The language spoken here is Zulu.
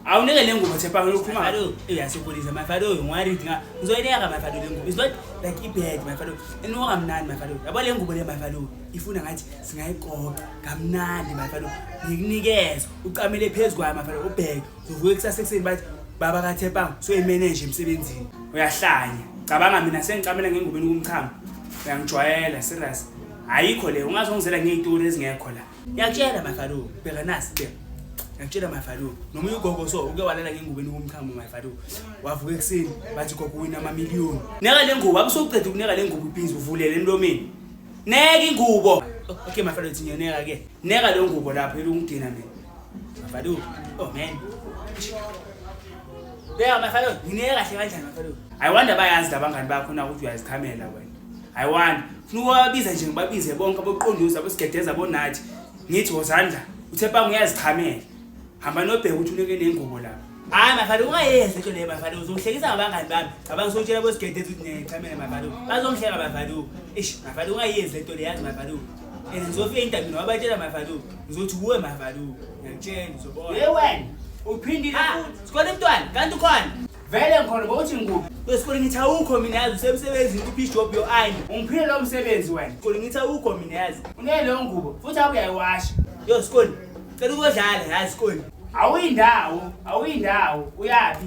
awunike le ngubo thepha ukhuluma ngalo eyasokolisa my father oyo ngiwaread nga ngizoyineka my father le ngubo is not like ibad my father enoka kamnandi my father yabo le ngubo le my father ifuna ngathi singayiqoqa kamnandi my father ngikunikeza ucamele phezu kwayo my father ubheke uzovuka ekusasa ekuseni bathi baba kathepang soyimeneje emsebenzini uyahlanya cabanga mina sengicamela ngengubeni kumchamo uyangijwayela serious ayikho le ungazongizela ngey'turi ezingekho la Ngiyakutshela my Farouk, bheka nasi bheka. Ngiyakutshela my Farouk, nomunye ugogo so uke walala ngengubo enikumkhamo my Farouk. Wavuka ekuseni bathi gogo wina ama million. Neka le ngubo, abusoqeda ukuneka le ngubo ibhizi uvulele emlomeni. Neka ingubo. Okay my Farouk ngiyaneka ke. Neka le ngubo lapho elungidina mina. My Farouk, oh man. Bheka my Farouk, ngineka kahle kanjani my Farouk? I wonder bayazi labangani bakho na ukuthi uyazikhamela wena. I wonder Funa ukubabiza nje ngibabize bonke aboqonduza abesigedeza abonathi ngithi wozani la uthe panga uyazichamela hamba nobheka ukuthi uneke nengubo lapha hayi mafana ungayenzi into leyo mafana uzongihlekisa ngabangani bami ngaba ngisotshela kwesigedeza ukuthi nechamele mafana bazongihleka mafana ish mafana ungayenzi lento leyo yazi mafana and ngizofika endabeni wabatshela mafana ngizothi kuwe mafana ngiyakutshela uzobona ye wena uphindile futhi sikhona umntwana kanti ukhona vele ngikhona bowuthi ngikuphi kwesikole ngithi awukho mina yazi usemsebenzini kuphi job yo ayi ungiphile lo msebenzi wena sikole ngithi awukho mina yazi uneleyo ngubo futhi awuyayiwasha yo sikole cela ukodlala yazi sikole awuyindawo awuyindawo uyaphi